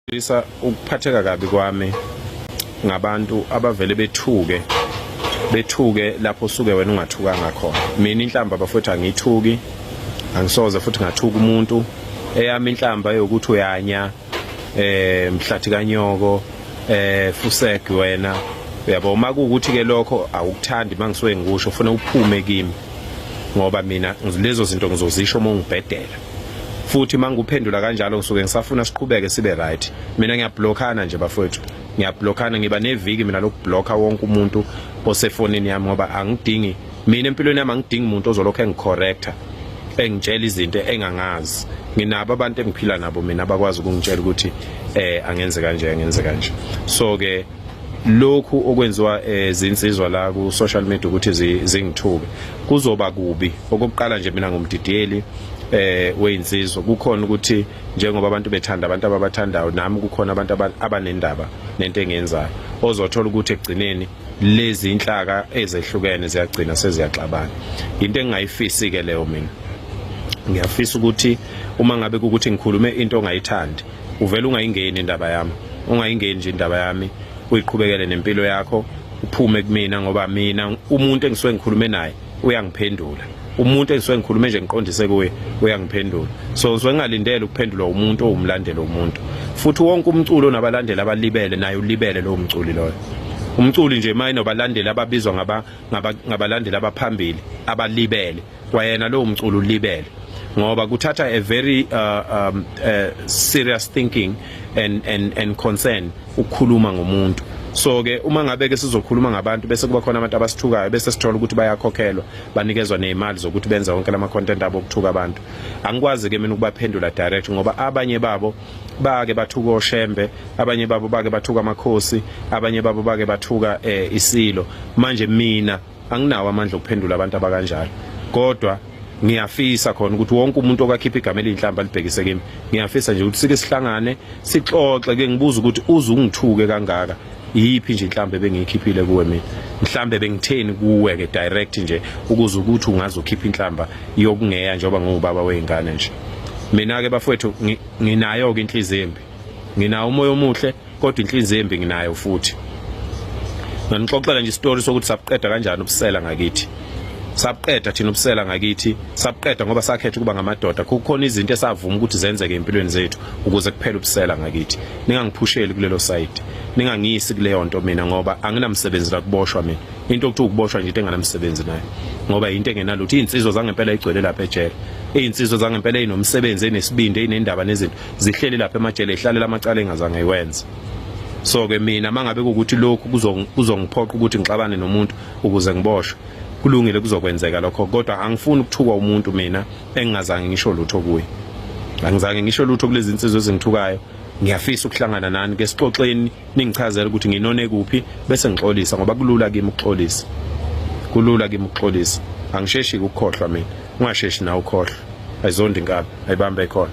Lisa ukuphatheka kabi kwami ngabantu abavele bethuke bethuke lapho usuke wena ungathukanga khona mina inhlamba bafowethu angithuki angisoze futhi ngathuka umuntu eyami inhlamba yokuthi uyanya eh mhlathi kanyoko eh fuseg wena uyabo uma kuukuthi ke lokho awukuthandi mangisuke ngikusho ufuna uphume kimi ngoba mina lezo zinto ngizozisho uma ngibhedela futhi mangikuphendula kanjalo ngisuke ngisafuna siqhubeke sibe right mina ngiyablockana nje bafowethu ngiyablockana ngiba neviki mina lokublocker wonke umuntu osefonini yami ngoba angidingi mina empilweni yami angidingi umuntu ozolokhu engicorrecta engitshela izinto engangazi nginabo abantu engiphila nabo mina abakwazi ukungitshela ukuthi eh angenze kanje angenze kanje so ke lokhu okwenziwa eh, zinsizwa la ku social media ukuthi zingithuke kuzoba kubi okokuqala nje mina ngumdidiyeli eh weyinsizwa kukhona ukuthi njengoba abantu bethanda abantu ababathandayo nami kukhona abantu abanendaba nento engenzayo ozothola ukuthi ekugcineni lezi inhlaka ezehlukene ziyagcina seziyaxabana into engingayifisi ke leyo mina ngiyafisa ukuthi uma ngabe ukuthi ngikhulume into ongayithandi uvela ungayingeni indaba yami ungayingeni nje indaba yami uyiqhubekele nempilo yakho uphume kumina ngoba mina umuntu engisuke ngikhulume naye uyangiphendula umuntu engisuke ngikhulume nje ngiqondise kuye uyangiphendula so ngisuke ngingalindele ukuphendulwa umuntu owumlandeli womuntu futhi wonke umculo onabalandeli abalibele naye ulibele lowo mculi loyo umculi nje mayinobalandeli ababizwa ngabalandeli abaphambili abalibele kwayena lowo mculo ulibele ngoba kuthatha a very uh, um, uh, serious thinking and and and concern ukukhuluma ngomuntu so ke uma ngabe ke sizokhuluma ngabantu bese kuba khona abantu abasithukayo bese sithola ukuthi bayakhokhelwa banikezwa nezimali zokuthi benze wonke lama content abo ukuthuka abantu angikwazi ke mina ukubaphendula direct ngoba abanye babo bake bathuka oshembe abanye babo bake bathuka amakhosi abanye babo bake bathuka eh, isilo manje mina anginawo amandla okuphendula abantu abakanjalo kodwa ngiyafisa khona ukuthi wonke umuntu okakhipha igama elinhlamba libhekise kimi ngiyafisa nje ukuthi sike sihlangane sixoxe ke ngibuza ukuthi uze ungithuke kangaka iyiphi nje inhlambe bengiyikhiphile kuwe mina mhlambe bengitheni kuwe ke direct nje ukuze ukuthi ungaze ukhiphe inhlamba yokungeya njengoba ngubaba weingane nje mina ke bafowethu nginayo ke inhliziyo embi nginawo umoya omuhle kodwa inhlinziyo embi nginayo futhi nganixoxela nje isitori sokuthi sabuqeda kanjani ubusela ngakithi sabuqeda thina ubusela ngakithi sabuqeda ngoba sakhetha ukuba ngamadoda kukhona izinto esavuma ukuthi zenzeke empilweni zethu ukuze kuphele ubusela ngakithi ningangiphusheli kulelo side ningangiyisi kuleyo nto mina ngoba anginamsebenzi la kuboshwa mina into okuthi ukuboshwa nje into enganamsebenzi nayo ngoba yinto engenalutho iy'nsizwa zangempela igcwele lapha ejele iy'nsizwa zangempela ezinomsebenzi enesibindi eyinendaba nezinto zihleli lapha emajele ihlalela amacala engazange iwenze so ke mina mangabe ukuthi lokhu kuzongiphoqa ukuthi ngixabane nomuntu ukuze ngiboshwe kulungile kuzokwenzeka lokho kodwa angifuni ukuthukwa umuntu mina engingazange ngisho lutho kuye angizange ngisho lutho kulezi insizwe ezingithukayo ngiyafisa ukuhlangana nani ke sixoxeni ningichazela ukuthi nginone kuphi bese ngixolisa ngoba kulula kimi ukuxolisa kulula kimi ukuxolisa angisheshi ukukhohlwa mina ungasheshi na ukhohlwa ayizondi inkabi ayibambe khona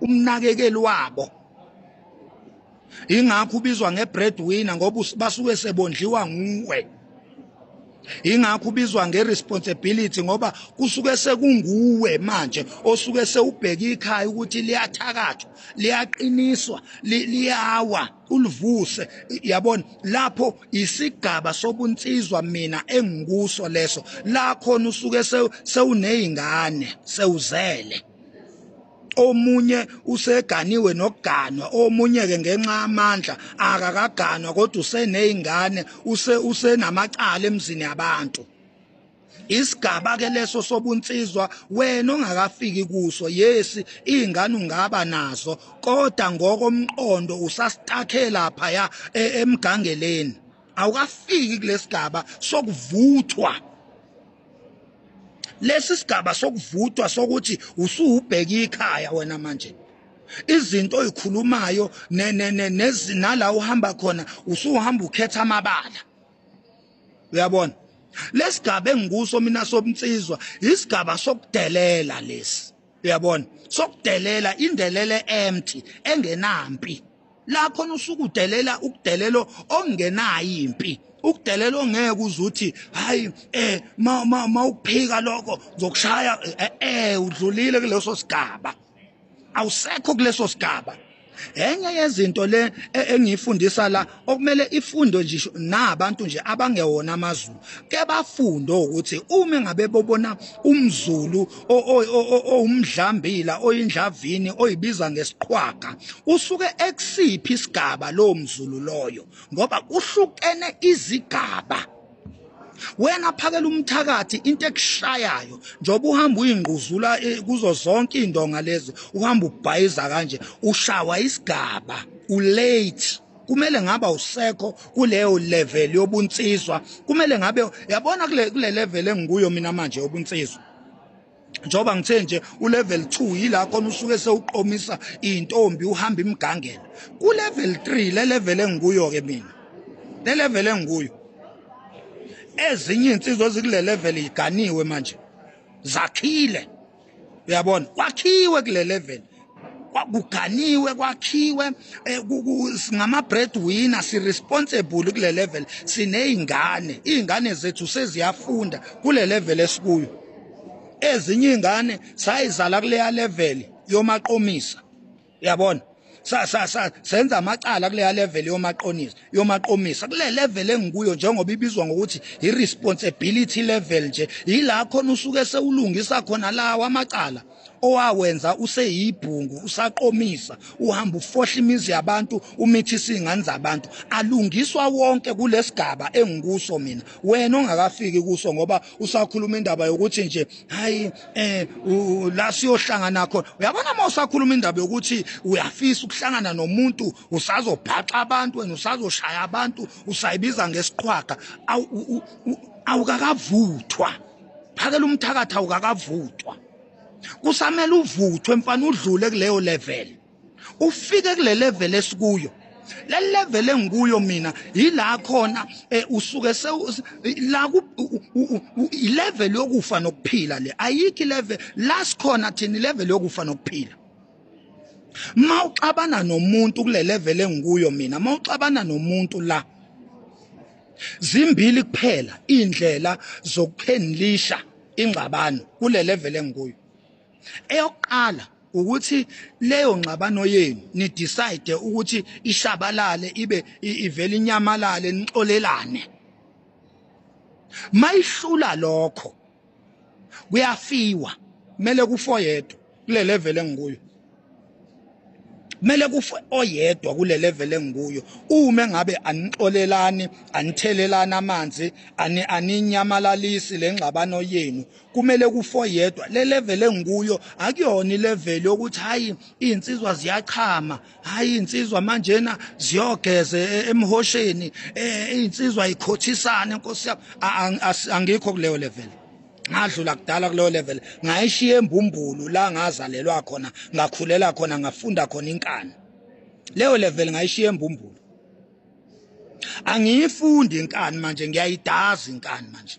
umnakekeli wabo ingakho ubizwa ngebreadwinner ngoba basuke sebondliwa nguwe ingakho ubizwa ngeresponsibility ngoba kusuke sekunguwe manje osuke sewubheka ikhaya ukuthi liyathakathwa liyaqiniswa liyawa ulivuse yabona lapho isigaba sobunsizwa mina engikuso leso la khona usuke sewunezingane sewuzele omunye useganiwe nokuganwa omunye ke ngenxa amandla akakaganwa kodwa usenezingane use usenamacala emzini yabantu isigaba ke leso sobunsizwa wena ongakafiki kuso yesi izingane ungaba nazo kodwa ngokomqondo usasitakhela phaya e, emgangeleni awukafiki kulesigaba sokuvuthwa lesi sigaba sokuvuthwa sokuthi usuwubheka ikhaya wena manje izinto oyikhulumayo nala uhamba khona usuhamba ukhetha amabala uyabona lesigaba engikuso mina sobunsizwa isigaba sokudelela lesi uyabona sokudelela indelele empty engenampi la khona usuke udelela ukudelelo ongenayo impi ukudelela ongeke uzuthi hayi eh ma ma ukuphika lokho ngizokushaya eh, eh udlulile kuleso sigaba awusekho kuleso sigaba enye yezinto le e, engiyifundisa la okumele ifundo nje nabantu nje abangewona amazulu ke bafunde ukuthi uma ngabe bobona umzulu owumdlambila oyindlavini oyibiza ngesiqhwaga usuke ekusiphi isigaba lo mzulu loyo ngoba kuhlukene izigaba wena phakela umthakathi into ekushayayo njengoba uhamba uyingquzula eh, kuzo zonke indonga lezi uhamba ubhayiza kanje ushawa isigaba ulate kumele ngaba usekho kuleyo level yobunsizwa kumele ngabe yabona kule level engikuyo mina manje yobunsizwa njengoba ngithe nje ulevel 2 yila khona usuke sewuqomisa intombi uhamba imgangela ku level 3 le level engikuyo ke mina le level engikuyo ezinye insizwa ezikule level iganiwe manje zakhile uyabona kwakhiwe kule level kwakuganiwe kwakhiwe eh, ngama breadwinner si responsible kule level sinezingane izingane zethu seziyafunda kule level esikuyo ezinye izingane sayizala kuleya level yomaqomisa yabona sa sa sa senza amacala kuleya level yomaqonisa yomaqomisa kule level engikuyo njengoba ibizwa ngokuthi i responsibility level nje yila khona usuke sewulungisa khona lawa amacala owawenza useyibhungu usaqomisa uhamba ufohla imizi yabantu umithisa izingane zabantu alungiswa wonke kulesigaba engikuso mina wena ongakafiki kuso ngoba usakhuluma indaba yokuthi nje hayi eh la siyohlangana khona uyabona uma usakhuluma indaba yokuthi uyafisa ukuhlangana nomuntu usazobhaxa abantu wena usazoshaya abantu usayibiza ngesiqhwaga awukakavuthwa phakela umthakathi awukakavuthwa kusamele uvuthwe mfana udlule kuleyo level ufike kule level esikuyo le level engikuyo mina yila khona eh, usuke la ilevel yokufa nokuphila le ayikho ilevel la sikhona thina ilevel yokufa nokuphila ma uxabana nomuntu kule level engikuyo mina ma uxabana nomuntu la zimbili kuphela indlela zokuphenlisha ingxabano kule level engikuyo eyokuqala ukuthi leyo ngxabano yenu ni decide ukuthi ishabalale ibe ivele inyamalale nixolelane mayihlula lokho kuyafiwa kumele kufa oyedwa kule level engikuyo kumele kufe oyedwa kule level engikuyo uma ngabe anixolelani anithelelana amanzi ani aninyamalalisi lengxabano yenu kumele kufe oyedwa le level engikuyo akuyona ilevel yokuthi hayi insizwa ziyachama hayi insizwa manjena ziyogeze e, emhosheni e, insizwa ikhothisane nkosi yami angikho kuleyo level ngadlula kudala kuleyo level ngayishiya embumbulu la ngazalelwa khona ngakhulela khona ngafunda khona inkani leyo level ngayishiya embumbulu angiyifundi inkani manje ngiyayidaza inkani manje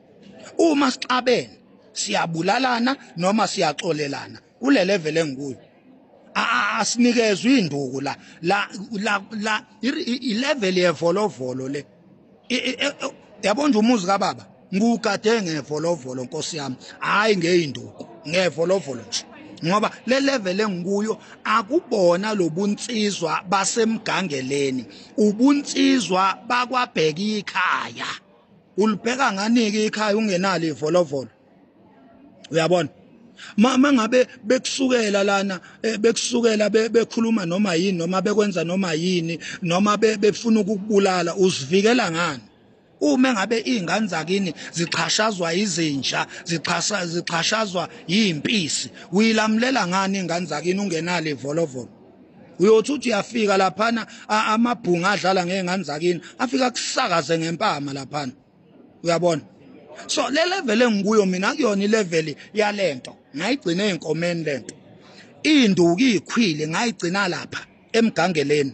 uma sixabene siyabulalana noma siyaxolelana kule level engikuyo asinikezwe induku la la la la i level yevolovolo le e, e, e, yabona nje umuzi kababa ngugade ngevolovolo nkosi yami hayi ngeyinduku ngevolovolo nje ngoba le level engikuyo akubona lobunsizwa basemgangeleni ubunsizwa bakwabheka ikhaya ulibheka nganike ikhaya ungenalo ivolovolo uyabona mama ngabe bekusukela lana eh, bekusukela bekhuluma noma yini noma bekwenza noma yini noma befuna ukukubulala uzivikela ngani uma ngabe izingane zakini zixhashazwa izinja zixhasha zixhashazwa impisi uyilamulela ngani ingane zakini ungenalo ivolovolo uyothi uthi uyafika laphana amabhunga adlala ngey'ngane zakini afike akusakaze ngempama laphana uyabona so le level engikuyo mina kuyona ilevel yale nto ngayigcina ey'nkomeni le nto iy'nduku iy'khwile ngayigcina lapha emgangeleni